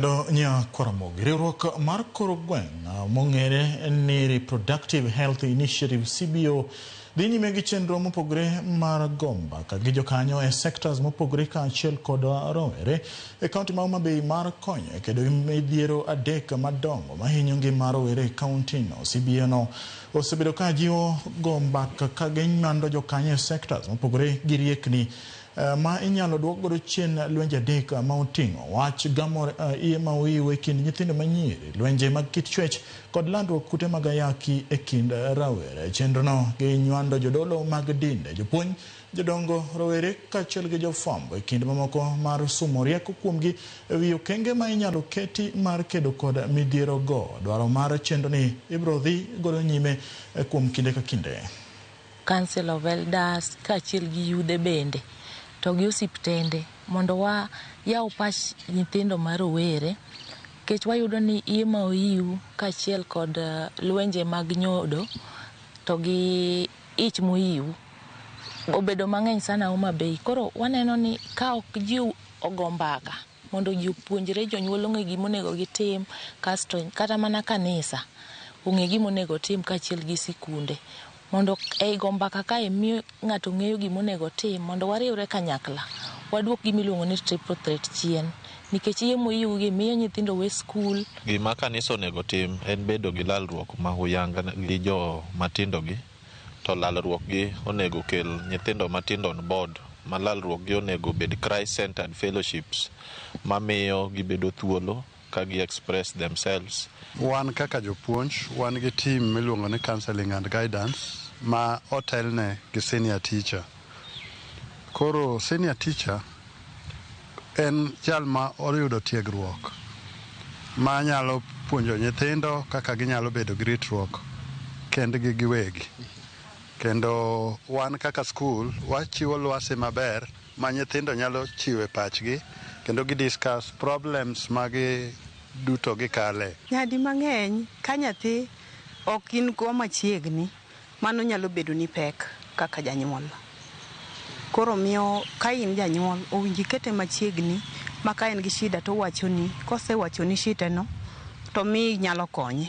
Kendo nya Kwaramogi, riwruok mar koro gweng' mong'ere ni Reproductive Health Initiative CBO dhi nyime gi chenro mopogore mar gomba ka gi jokanyo e sectors mopogore kaachiel kod rowere e kaunti ma Homa Bay mar konyo e kedo gi midhiero adek madongo mahinyo ngima rowere e kauntino. CBO no osebedo ka jiwo gomba ka gimando jokanyo e sectors mopogore gi riekni eh, ma inyalo duok godo chien lwenje adek eh, ma oting'o wach gamo eh, iye ma oiw e kind nyithindo manyiri, lwenje mag kit chwech kod landruok kute mag ayaki e kind rawere. Chenrono ginywando jodolo mag dinde, jopuonj, jodongo, rowere kaachiel gi jofwambo e kinde mamoko mar sumo rieko kuomgi e wi okenge ma inyalo keti mar kedo kod midhierogo. Dwaro mar chenroni ibiro dhi godo nyime eh, kuom kinde ka kinde. Council of Elders kaachiel gi yudhe bende to gi osiptende mondo wayaw pach nyithindo ma rowere nikech wayudo ni iye ma oyiw kaachiel kod lwenje mag nyodo to gi ich moyiw obedo mang'eny sana Homa Bay. Koro waneno ni ka ok ji ogo mbaka mondo ji opuonjre, jonyuol ong'e gima onego gitim kasto kata mana kanisa ong'e gima onego otim kaachiel gi sikunde. Mondo ei go mbaka kae mi ng'ato ng'eyo gima onego otim mondo wariwre kanyakla waduok gima iluongo ni triple threat chien nikech yie moyiwgi miyo nyithindo we skul, Gima kanisa onego tim en bedo gi lalruok ma huyanga gi jo matindogi to lalruokgi onego kel nyithindo matindo on board ma lalruokgi onego obed Christ centered fellowships mamiyo gibedo thuolo ka gi express themselves. Wan kaka jopuonj wan gi team miluongo ni counseling and guidance ma otelne gi senior teacher. Koro senior teacher en jal ma oyudo tiegruok ma nyalo puonjo nyithindo kaka ginyalo bedo gi ritruok kendgi giwegi. Kendo wan kaka skul wachiwo lwasi maber ma nyithindo nyalo chiwe pachgi kendo gi discuss problems ma gi duto gikale. Nyadi mang'eny ka nyathi ok in go machiegni mano nyalo bedoni pek kaka janyuol. Koro miyo ka in janyuol owinjo ikete machiegni ma ka en gi shida to owachoni, kosewachoni shiteno to miyo inyalo konye.